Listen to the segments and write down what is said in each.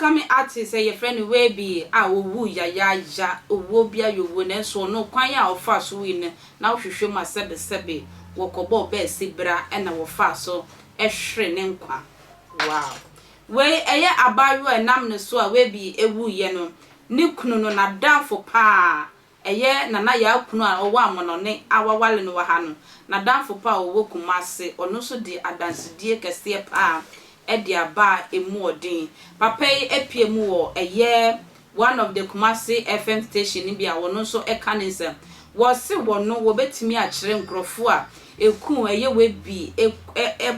upcoming artist a yɛfrɛ no Webie a ɔwuu yayaaya, owuo bi ayɛ owuo nanso ɔno kwan a ɔfaa so wui no na wohwehwɛ mu a sɛbesɛbe wɔkɔbɔɔ bɛɛse bra na wɔfaa so hwere ne nkwa. Wow! Wei ɛyɛ abaayewa a ɛnam ne so a Webby wuiɛ no, ne kunu no, n'adamfo pa ara, ɛyɛ Nana Yaa kunu a ɔwɔ Amonɔne a waware no wɔ ha no, n'adamfo pa a ɔwɔ Kumasi, ɔno nso de adansedie kɛseɛ pa ara de aba a ɛmu wɔ den. Papa yi apue mu wɔ ɛyɛ one of the Kumasi FM station no bi a ɔno nso ka ne nsɛm. Wɔse wɔno wɔbɛtumi akyerɛ nkorɔfoɔ a ɛkuu ɛyɛ Webby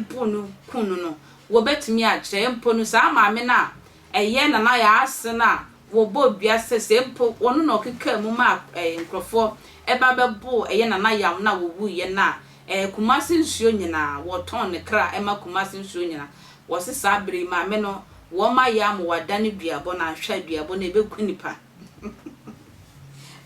bo no kuu no no Wobetumi akyerɛ mpo no saa maame no a ɛyɛ Nana Yaase no a wɔbɔɔ dua sɛ sɛ mpo ɔno na ɔkekaa mu maa nkurɔfoɔ ba bɛboo ɛyɛ Nana Yam no a wɔwuiɛ no a, ɛɛ Kumasi nsuo nyinaa, wɔtɔn ne kra ma Kumasi nsuo nyinaa. Wɔse saa berɛ yi maame no wɔmma yɛ amoa da ne duabɔ no anhwɛ a duabɔ no ɛbɛku nnipa.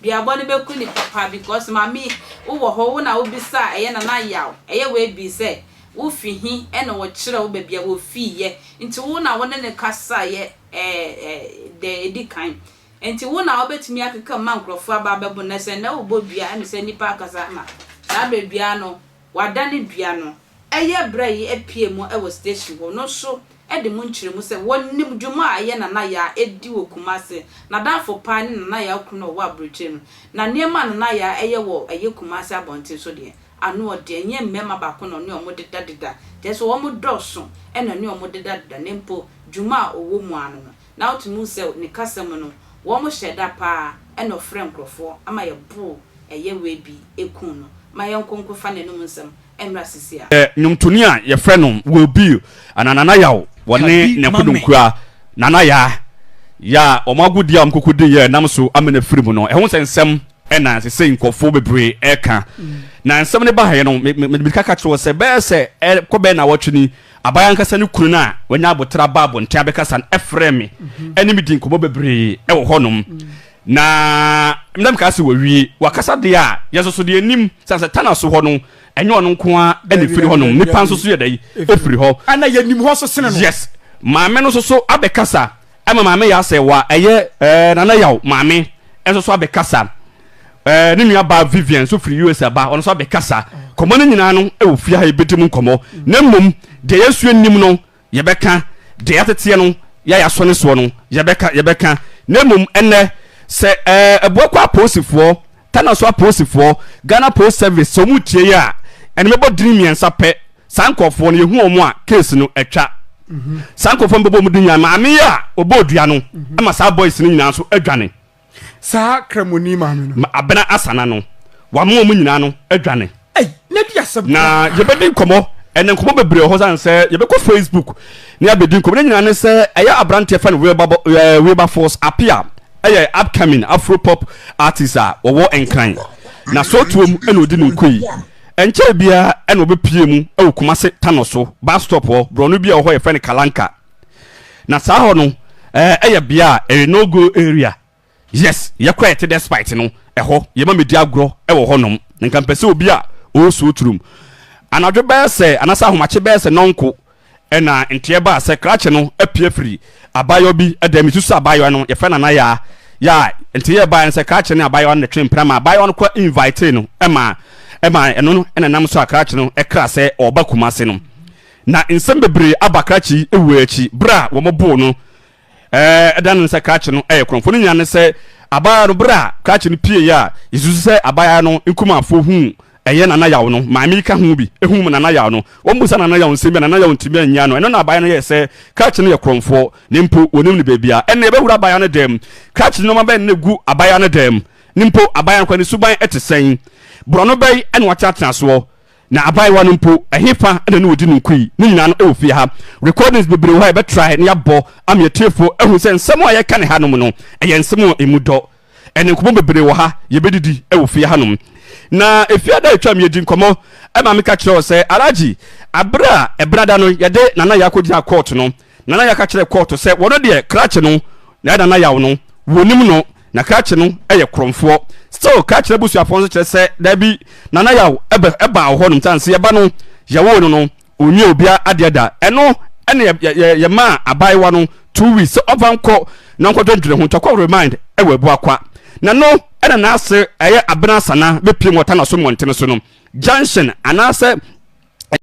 Duabɔ no bɛku ne papa because mame wo wɔ hɔ wo na wo bisaa ɛyɛ nana yaw ɛyɛ wei bii sɛ wo fi he ɛna ɔkyerɛ wo bɛbia wɔ fii yɛ nti wo na wo ne ne kasa yɛ ɛɛ ɛɛ dɛɛ ɛdi kan nti wo na wo bɛtumi akeka mu ma nkorɔfoɔ aba abɛbo nɛsɛ nɛ wo bɔ dua ɛne sɛ nipa akasa ma saa berɛ dua no Wada ne dua no ɛyɛ bra yi apue mu wɔ station hɔ no nso de mu nkyerɛmu sɛ wɔnim dwuma a ɛyɛ Nana Yaa ɛdi wɔ Kumasi, nadamfo paa ne Nana Yaa kunu a ɔwɔ aburokyire no, na nneɛma a Nana Yaa ɛyɛ wɔ ɛyɛ Kumasi abɔnten so deɛ ano ɔden, ɛnyɛ mmarima baako na ɔne wɔn deda deda, kyerɛ sɛ wɔn dɔɔso na ɛne wɔn deda deda na mpo dwuma a ɔwɔ mu ara no no na wotumi hu sɛ ne kasa mu no wɔhyɛ da paa na ɔfrɛ nkorɔfoɔ ma yɛboro ɛyɛ wei bi kun no ma yɛnkɔ nkɔfa n'anum nsɛm mmra sisi a. Yɛ nwomtoni a yɛfrɛ no Will Bill anaa Nana Yaw wɔ ne ne kodonkura Nana Yaa Yaa a wɔn agodie a wɔn koko di yɛ nam so amena firi mu no ɛho sɛ nsɛm na sesei nkorɔfoɔ bebree ɛka na nsɛm no baeɛ no me me mede ka ka kyerɛ wo sɛ bɛyɛ sɛ ɛkɔ bɛyɛ nawɔtwe ni Aban ankasa ne kunu no a wanya aboterɛ aba abɔnten abɛkasa no frɛɛ me ne me dii nkɔmmɔ bebree wɔ hɔnom, na na mekaa sɛ wawie. Wakasa deɛ a, yɛn nso so deɛ yɛnim sɛ sɛ Tana so hɔ no, ɛnyɛ ɔno nko ara na ɛfiri hɔnom, nnipa nso so yɛ dɛn? Ɛfiri hɔ. Ɛna yɛnim hɔ nso sene no. Yes. Maame no nso so abɛkasa. Ɛma maame yɛ asɛe wa ɛyɛ ɛɛ Nana Yaw. Maame nso so abɛkasa. Ɛɛ ne nua baa Vivian nso firi US aba, ɔno nso abɛkasa. Kɔmmɔ no nyinaa no ɛwɔ fie ha yɛbɛdi mu nkɔmmɔ. Na mmom deɛ yɛsua nnim no yɛbɛka, deɛ yɛateteɛ no yɛ a yɛasɔ ne soɔ no yɛbɛka, yɛbɛka. Na mmom ɛnnɛ sɛ ɛɛ Abuakwa apolisifoɔ Tanaso apolisifoɔ, Ghana Post Service, sɛ wɔn retie yi a, ɛnde mɛbɔ dini mmiɛnsa pɛ, saa nkorɔfoɔ no, yɛhu wɔn a, case no, atwa. Saa nkorɔfoɔ no bɛbɔ wɔn din nyinaa, maame yi a ɔbɔɔ dua no, ɛma saa boys no nyinaa nso adwane. Saa Kramoni maame no. Abena Asana no, wɔama wɔn nyinaa no adwane. na yɛbɛdi nkɔmmɔ ɛnɛ nkɔmmɔ bebree wɔ hɔ sane sɛ yɛbɛkɔ facebook ne abɛdi nkɔmmɔ ne nyinaa ne sɛ ɛyɛ aberanteɛ fɛ no wilberforce apia ɛyɛ upcoming afropop artist a wɔwɔ nkran na sootuom ɛna ɔdi ne nkoi ɛnkyɛ biara ɛna ɔbɛpie mu ɛwɔ kumase tano so bus stop hɔ borɔno bi a ɔhɔ yɛfɛ no kalanka na saa hɔ no ɛyɛ bea a ɛyɛ no go area Yes yɛkɔ ɛte despite no ɛhɔ yɛma medi agorɔ wɔ hɔ nom nka mpɛ sɛ obi a ɔresuo turom anadwo bɛyɛ sɛ anaasɛ ahomakye bɛyɛ sɛ nɔnko ɛna nteɛ baa sɛ krakye no apue afiri abaayewa bi dan mu susu sɛ abaayewa no yɛfrɛ no anayaa yaa nteɛ baeɛ no sɛ krakye ne abaayewa no na twe mpena ma abaayewa no kɔ invitee no ɛma ɛma ɛno no ɛna nam so a krakye no ɛkra sɛ ɔba kumase no na nsɛm bebree aba krakye yi ɛwuo akyi berɛ a wɔn boo no Ɛda no sɛ krakye no yɛ korɔmfo no nyinaa ne sɛ abaayaa no bere a krakye no pieeɛ a yesusu sɛ abaayaa no nkumafoɔ huu ɛyɛ Nana Yaw no maame yi ka ho bi huu Nana Yaw no wɔmmisa Nana Yaw nsɛm bi a Nana Yaw ntumi annya no ɛno na abaayaa no yɛɛ sɛ krakye no yɛ korɔmfoɔ ne mpo wɔnim no baabi a ɛnna yɛbɛwura abaayaa no dan mu krakye nneɛma bɛn na ɛgu abaayaa no dan mu ne mpo abaayaa no kora ne suban te sɛn borɔno bɛn na watenatenasoɔ Na abaayewa no mpo, ɛhefa na ne wɔdi no nkui? Ne nyinaa no ɛwɔ fie ha. Recordings bebree wɔ hɔ a yɛbɛtrae na yɛabɔ ama atiefoɔ ahu sɛ nsɛm a yɛka no hanom no, ɛyɛ nsɛm a ɛmu dɔ. Ɛne nkɔmmɔ bebree wɔ ha, yɛbɛdidi wɔ fie hanom. Na Efiada a ɛtwaam yi yɛdii nkɔmmɔ ma meka kyerɛɛ wo sɛ, Alhaji, berɛ a Ɛbenada no yɛde Nana Yaa kɔgyinaa kɔɔto no, Nana yɛ aka kyerɛ kɔɔto sɛ wɔno deɛ krakye no na ɛyɛ nana yaw no wɔnim no na krakye no yɛ korɔmfoɔ still krakye n'abusuafoɔ nso kyerɛ sɛ daabi nana yaw ɛbɛ ɛbaa wɔ hɔ nom sane sɛ yɛba no yɛwoo no no ɔnwie obia adeɛ da ɛno ɛne yɛ yɛ yɛ yɛ maa abaayewa no two weeks sɛ ɔmfa nkɔ na ɔnkɔ dwendwene ho tɔkɔ remind ɛwɔ abua kwa na no ɛna n'ase ɛyɛ abena sana bɛpiem wɔ tanaso mmɔntene so no junction anaasɛ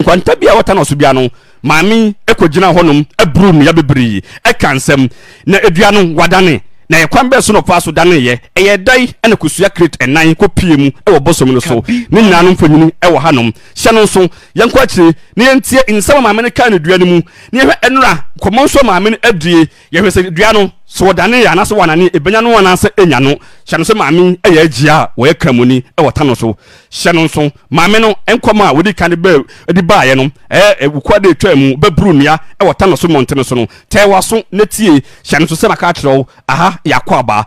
Nkwanta bi a wɔtan ɔso dua no, maame yi kogyinaa hɔnom boroo nnua bebree kaa nsɛm. Ná dua no wɔadane, na ɛkwan bɛn so na ɔfaa so daneeɛ? Ɛyɛɛ dɛn na kosua krate nnan kɔpuee mu wɔ bosom no so? Ne nyinaa no mfonini wɔ hanom. Hyɛ no nso. Yɛnkɔ akyire na yɛntie nsɛm a maame no kaa no dua no mu, na yɛnhwɛ nnora nkɔmmɔ nso a maame no adie. Yɛhwɛ sɛ dua no, sɛ ɔdanee a, anaasɛ wɔanane, ɛbɛnya no anaasɛ ɛnnya no. Hyɛ no sɛ maame yɛ agya a ɔyɛ Kramoni wɔ ta no so. Hyɛ no nso, maame no nkɔm a wɔdii kan de baeɛ no, ɛɛ, Wukura dɛ twaa mu, bɛburu nnua wɔ ta no so mmɔntene so no, tɛɛ w'aso na tie. Hyɛ no nso sɛ maka akyerɛ wo, aha yɛ akwaaba.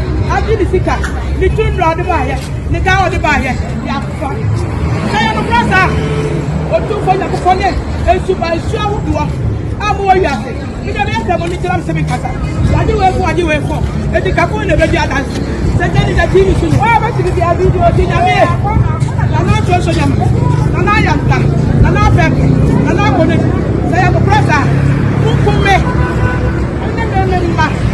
agye ne sika ne tumi na ɔde baayɛ ne ka a ɔde baayɛ de afa na yɛ no kora saa ɔtumfoɔ nyankopɔn ne nsuba nsu ahodoɔ a mowɔ wiase mede me asɛm no kyerɛ m sɛ menkasa wade wei ko wade wei ko ɛti kako na ɛbɛdi adanse sɛ gya ne gya tv so ne ɔbɛtumi bia video ti nyame nana nsuoso nyame nana ayanta nana afɛfɛ nana akɔnɛ sɛ yɛ no kora saa monkum me ne me mma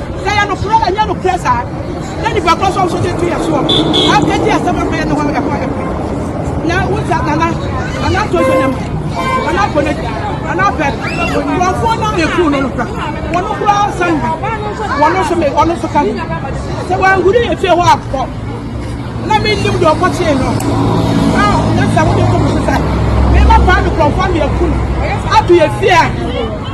Sɛ ɛyɛ nokorɛ, ɛnyɛ nokorɛ saa, na nipa korɔ nso ɔnso gye nto yɛn soɔ, afei gye asɛm ɛkɔ yɛ ne hɔ ɛkɔ ɛkɔ na wogya nana nana tonso ne mu nana akɔ ne nana afɛ nkurɔfoɔ no a ɛkuu no no kora wɔn no kora san bi wɔn nso me wɔn nso ka bi sɛ wɔahuri yɛ fie hɔ akɔ na menim deɛ ɔkɔ kyee no na na sɛ wode kɔ mo so sɛ mema paa no nkurɔfoɔ no yɛku no ato yɛ fie a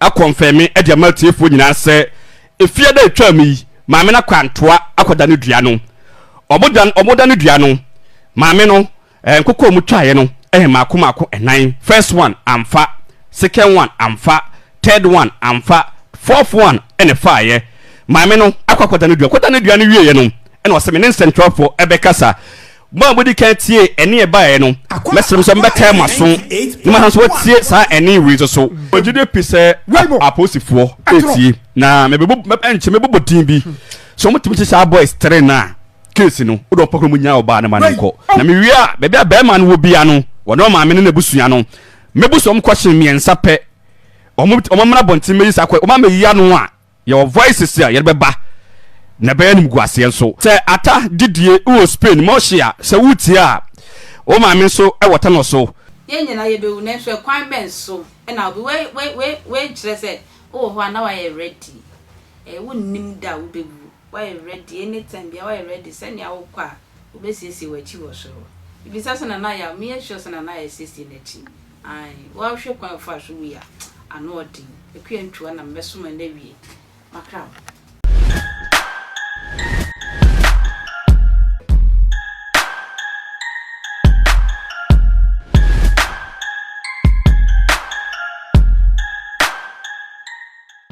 akɔnfɛme de ama atiefoɔ nyinaa sɛ ɛfie da a ɛtwaam yi maame no akɔ antoa akɔdane dua no. Ɔmo dan ɔmo dane dua no maame no eh, nkokɔ a ɔmo twaeɛ no eh, mmaako mmaako nnan, first one amfa, second one amfa, third one amfa, fourth one ɛna ɛfaeɛ. Maame no akɔ akɔdane dua, kɔdane dua no wieeɛ no ɛna ɔse me ne nsɛntwerɛfoɔ ɛbɛkasa. Mo a modi kan tiee ɛnne a ɛbaeɛ no, mɛsrɛ mo sɛ mobɛkae mo aso na moasan nso atie saa ɛnne wei nso so. Mewɔ gyidie pii sɛ apolisifoɔ retie, na nkyɛ mɛbobɔ din bi. Sɛ wɔtumi kyekyɛ saa boys three no a, case no, wode wɔn pɔkɔ na wɔnyaa ɔbaa no ma no nkɔ. Na mewie a, baabi a barima no wɔ biara no, wɔne wɔn maame ne n'abusua no, mɛbu so wɔn kɔhye mmiɛnsa pɛ. Wɔmmra abɔnten mmɛyi saa kɔ, wɔba mmɛyi ano a, Yɛwɔ Voices a yɛde bɛba na ɛbɛyɛ animguaseɛ nso. Sɛ ata didie wɔ Spain ma ɔhye a, sɛ woretie a, wo maame nso wɔ tɛnɔ so. Yɛn nyinaa yɛbɛwu, nanso ɛkwan bɛn so na obi, wei, wei, wei, wei nkyerɛ sɛ wowɔ hɔ a na woayɛ ready. Ɛɛ, wonnim da a wobɛwu. Woayɛ ready, anytime biara woayɛ ready, sɛnea wokɔ a, wɔbɛsiesie w'akyi wɔ soro. Bisa sɛ, Nana Yaw, meyɛ sure sɛ Nana Yaw asiesie n'akyi. Aane, woahwɛ kwan a ɔfaa so wui a, ano yɛ den. Akua ntua na mɛsoma no awie makra ho.